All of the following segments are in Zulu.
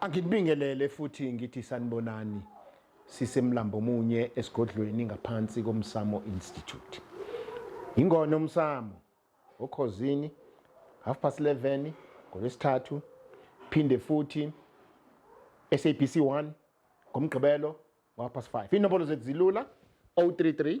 Angikubingelele futhi ngithi sanibonani sisemlambo munye esigodlweni ngaphansi komsamo institute ingona umsamo okhozini half past 11 ngolwesithathu phinde futhi SABC 1 ngomgqibelo ngapha 5 inombolo zethu zilula 033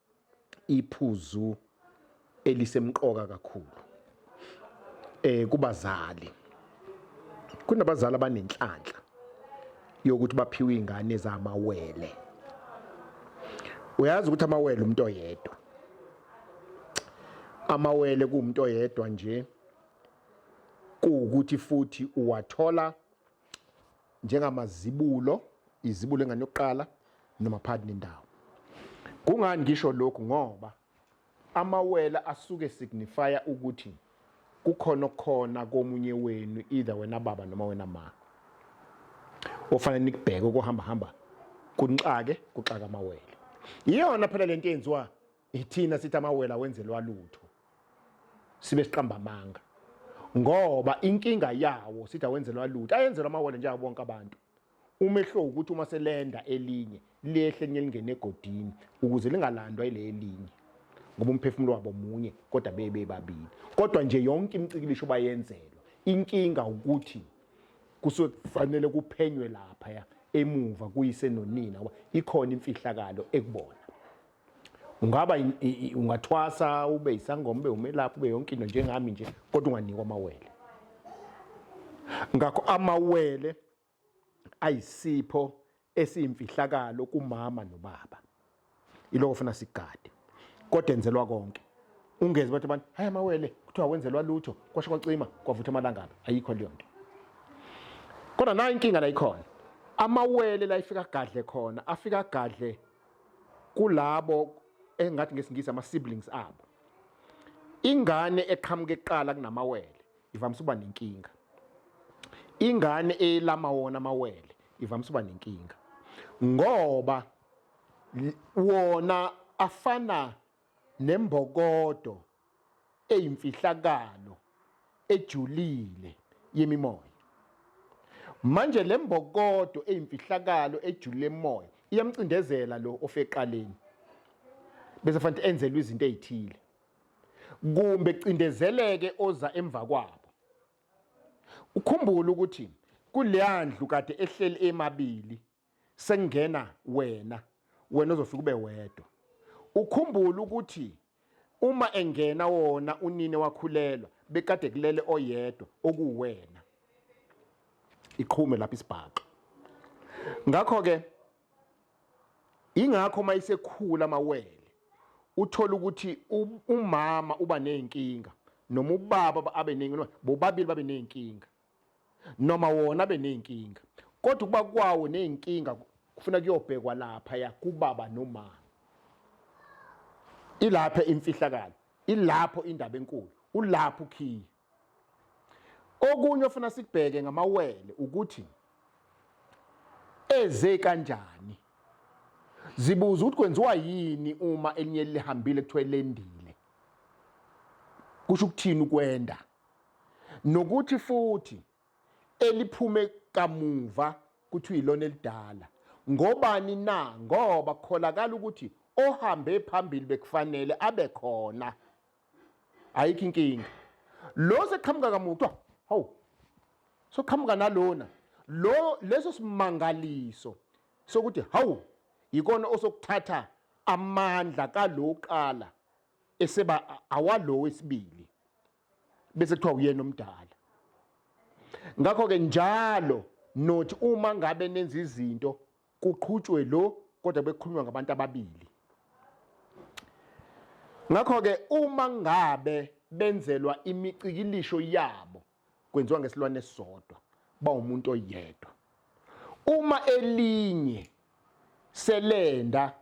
iphuzu elisemqoka kakhulu eh kubazali kunabazali abanenhlanhla yokuthi baphiwe ingane zamawele uyazi ukuthi amawele umuntu oyedwa amawele kuumuntu oyedwa nje kuwukuthi futhi uwathola njengamazibulo izibulo engane yokuqala noma phakathi nendawo kungani ngisho lokhu ngoba amawela asuke signifya ukuthi kukhona okukhona komunye wenu either wena baba noma wena ma ofanele nikubheke ukuhamba hamba kunixake kuxaka amawele iyona phela lento eyenziwa ithina sithi amawela wenzelwa lutho sibe siqamba amanga ngoba inkinga yawo sithi awenzelwa lutho ayenzelwa amawele njenga bonke abantu umehlo ukuthi uma selenda elinye liyehle nye lingene egodini ukuze lingalandwa ile elinye ngoba umphefumulo wabo munye kodwa bebe babili kodwa nje yonke imicikilisho bayenzelwa inkinga ukuthi kusuke kufanele kuphenywe lapha emuva kuyise nonina ikhona imfihlakalo ekubona ungaba ungathwasa ube isangoma ube umelaphi ube yonke into njengami nje kodwa unganikwa amawele ngakho amawele ayisipho esiyimfihlakalo kumama nobaba iloko funa sigade kodwa enzelwa konke ungeze bathi abantu hayi amawele kuthiwa wenzelwa lutho kwasho kwacima kwavutha amalangabi ayikho leyo nto kodwa nayo inkinga la ikhona amawele la ifika gadle khona afika gadle kulabo engathi ngesingisi ama-siblings abo ingane eqhamuke kuqala kunamawele ivamise uba nenkinga ingane elama wona amawele ivamise uba nenkinga ngoba wona afana nembokodo eyimfihlakalo ejulile yemimoya manje lembokodo eyimfihlakalo ejulile emoya iyamcindezela lo ofeqaleni bese fanele enzelwe izinto ezithile kumbe cindezeleke oza emva kwabo ukhumbule ukuthi kuleyandlu kade ehleli emabili sengena wena wena ozofika ube wedwa ukhumbula ukuthi uma engena wona unini wakhulelwa bekade kulele oyedwa okuwena iqhume lapha isibhaxo ngakho ke ingakho uma isekhula amawele uthola ukuthi umama uba nezinkinga noma ubaba abe nezinkinga bobabili babe nezinkinga noma wona abe ney'nkinga kodwa ukuba kwawo ney'nkinga kufuna kuyobhekwa lapha ya kubaba nomama ilapha imfihlakalo ilapho indaba enkulu ulapho ukhiye okunye ofuna sikubheke ngamawele ukuthi eze kanjani zibuza ukuthi kwenziwa yini uma elinye lihambile kuthiwa lendile kusho ukuthini ukwenda nokuthi futhi eliphume kamuva kuthiwa ilona elidala ngobani na ngoba kukholakala ukuthi ohambe phambili bekufanele abe khona ayikho inkinga lo seqhamuka kamuva kuthiwa hawu soqhamuka nalona lo leso simangaliso sokuthi hawu yikona osokuthatha amandla kaloqala eseba awalo wesibili bese kuthiwa uyena omdala ngakho ke njalo not uma ngabe nenza izinto kuqhutshwe lo kodwa bekukhulunywa ngabantu ababili ngakho ke uma ngabe benzelwa imicikilisho yabo kwenziwa ngesilwane esisodwa bawumuntu oyedwa uma elinye selenda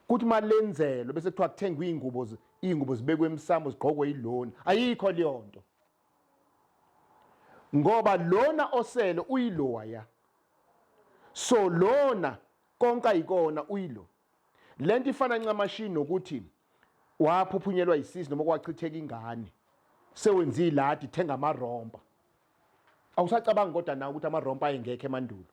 kuthi uma lenzelwe bese kuthiwa kuthengwe iy'ngubo iy'ngubo zibekwe emsamo zigqokwe yilona ayikho leyo nto ngoba lona osele uyiloya so lona konke ayikona uyilo le nto ifana ncamashi nokuthi waphuphunyelwa yisisi noma kwachitheka ingane sewenza iladi thenga amarompa awusacabanga kodwa nawe ukuthi amarompa ayengekho emandulo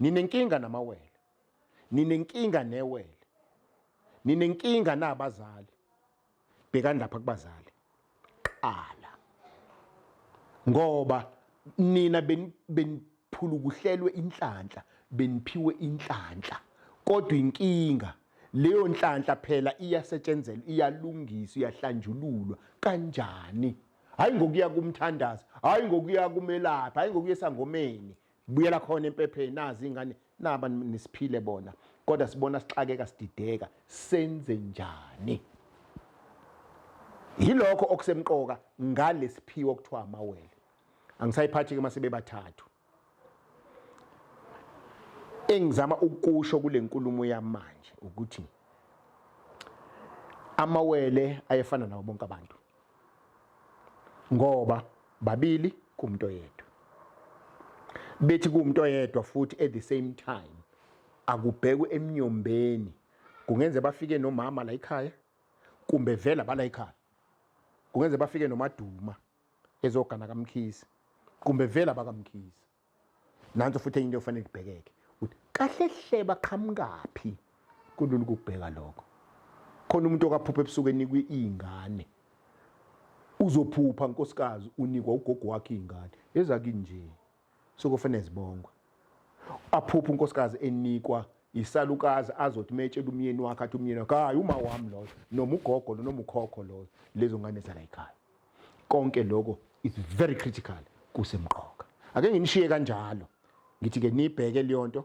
ninenkinga namawele ninenkinga newele ninenkinga nabazali bhekani lapha kubazali qala ngoba nina beniphulukuhlelwe inhlanhla beniphiwe inhlanhla kodwa inkinga leyo nhlanhla phela iyasetshenzelwa iyalungiswa iyahlanjululwa kanjani hayi ngokuya kumthandazi hayi ngokuya kumelaphi hayi ngokuya esangomeni buyela khona empepheni nazi ingane naba nisiphile bona kodwa sibona sixakeka sidideka senze njani yilokho okusemqoka ngalesiphiwo okuthiwa amawele angisayiphathi ke mase bebathathu engizama ukusho kule nkulumo yamanje ukuthi amawele ayefana nawo bonke abantu ngoba babili kumuntu oyedwa bethi kumuntu oyedwa futhi at the same time akubhekwe emnyombeni kungenze bafike nomama la ekhaya kumbe vela bala ekhaya kungenze bafike nomaduma ezogana kamkhizi kumbe vela bakamkhizi nanso futhi enye into efanele kubhekeke ukuthi kahle hle baqhamukaphi kulula ukubheka lokho khona umuntu okaphupha ebusuku enikwe iy'ngane uzophupha nkosikazi unikwa ugogo wakhe iy'ngane ezakinje sokufanele zibongwe aphupha unkosikazi enikwa isalukazi azothi metshela umyeni wakhe athi umyeni wakhe hayi uma wami loyo noma ugogo lo noma ukhokho loyo lezo ngane zalayikhaya konke lokho is very critical kusemqoka ake nginishiye kanjalo ngithi ke nibheke leyonto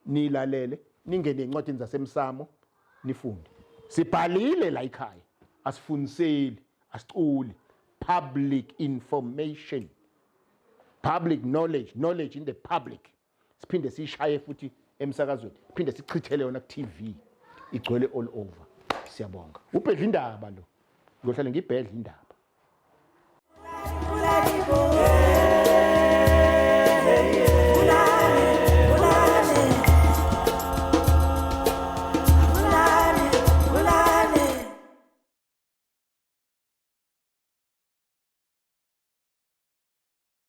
nilalele ningene encwadini zasemsamo nifunde sibhalile la ekhaya asifundiseli asiculi public information public knowledge knowledge in the public siphinde siyishaye futhi emsakazweni phinde sichithele yona ku-tv igcwele all over siyabonga ubhedla indaba lo ngiyohlale ngibhedla indaba